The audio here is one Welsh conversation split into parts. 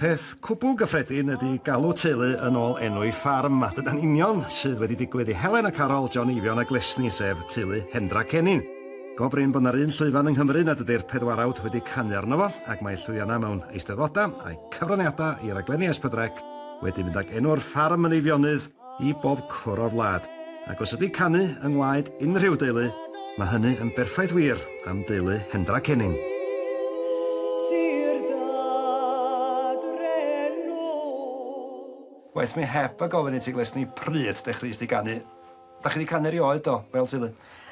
Peth cwbl gyffredin ydy galw teulu yn ôl enw'i ffarm, a dyna'n union sydd wedi digwydd i Helen a Carol, John Eifion a Glesni, sef teulu Hendra Cennin. Go brin bod 'na'r un llwyfan yng Nghymru nad ydy'r pedwarawd wedi canu arno fo, ac mae llwyddiannau mewn eisteddfodau, a'u cyfraniadau i raglenni S4C, wedi mynd ag enw'r ffarm yn Eifionydd i bob cwr o'r wlad, ac os ydi canu yng ngwaed unrhyw deulu, mae hynny yn berffaith wir am deulu Hendra Cenning. Waeth mi heb a gofyn i ti Glesni pryd dechreuais di ganu? Dach chi 'di canu erioed do, fel teulu?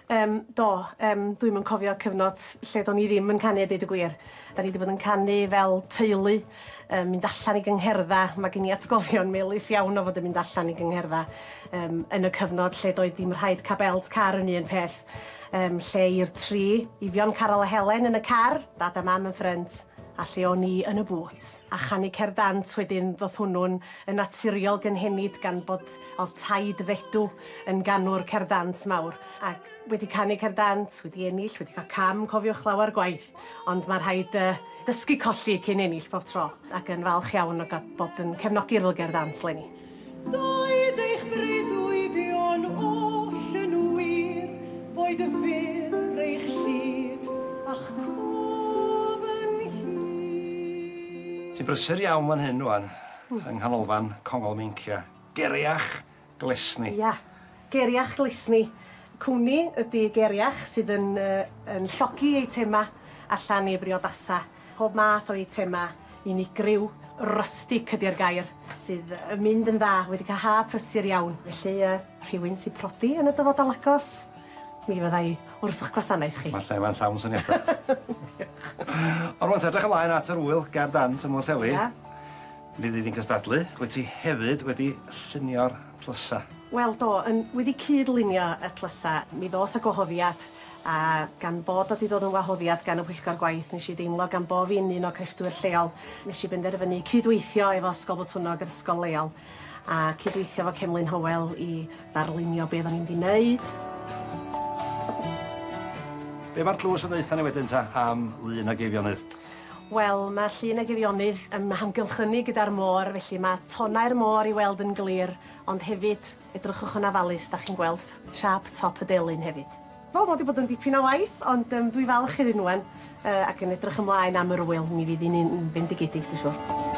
Yym, do. Yym, dwi'm yn cofio cyfnod lle do'n i ddim yn canu a deud y gwir. 'Dan ni 'di bod yn canu fel teulu, yn mynd allan i gyngherddau. Ma' gen i atgofion melys iawn o fod yn mynd allan i gyngherddau yym yn y cyfnod lle doedd dim rhaid ca' belt car yn un peth yym lle i'r tri Eifion, Caryl a Helen yn y car, Dad a Mam yn ffrynt, a lle o'n i yn y bŵt. A chanu cerdd dant wedyn ddoth hwnnw'n yn naturiol gynhenid gan bod O'dd taid Fedw yn ganwr cerdd dant mawr ac wedi canu cerdd dant, wedi ennill, wedi ca'l cam cofiwch lawer gwaith ond ma' rhaid yy dysgu colli cyn ennill bob tro ac yn falch iawn o ga'l bod yn cefnogi Rhyl Gerdd Dant 'leni. Doed eich breuddwydion oll yn wir, boed y fur eich llid a'ch cof yn hir. Ti'n brysur iawn fan hyn rŵan. Yng nghanolfan Congol Meincia. Geriach Glesni. Ia, Geriach Glesni. Cwmni ydy Geriach sydd yn yn llogi eitemau allan i briodasau. Pob math o eitemau unigryw, rustic ydy'r gair, sydd yn mynd yn dda, wedi cael haf prysur iawn. Felly yy rhywun sy'n prodi yn y dyfodol agos? Mi fydda i wrth 'ych gwasanaeth chi. Ma'r lle 'ma'n llawn syniada. Diolch. Ond rŵan te, edrych ymlaen at yr ŵyl ger dant ym Mwllheli. Ia. Mi fydd hi'n cystadlu. Wyt ti hefyd wedi llunio'r tlysa? Wel do, yn wedi cyd-lunio y tlysa. Mi ddoth y gwahoddiad, a gan fod o 'di dod yn wahoddiad gan y Pwyllgor Gwaith, nesh i deimlo gan bo' fi'n un o crefftwyr lleol, nesh i benderfynu cyd-weithio efo Ysgol Botwnnog, yr ysgol leol, a cydweithio efo Cemlyn Hywel i ddarlunio be oeddan ni'n mynd i wneud. Be mae'r tlws yn ddeutha ni wedyn ta am Lŷn ag Eifionydd? Wel, mae Llŷn ag Eifionydd yn hamgylchynu gyda'r môr, felly mae tonau'r môr i weld yn glir, ond hefyd, edrychwch yn ofalus, 'dach chi'n gweld siâp top y delyn hefyd. Wel ma' 'di bod yn dipyn o waith ond yym dwi falch i Rinwen yy ac yn edrych ymlaen am yr ŵyl mi fydd 'i'n un fendigedig dwi siŵr.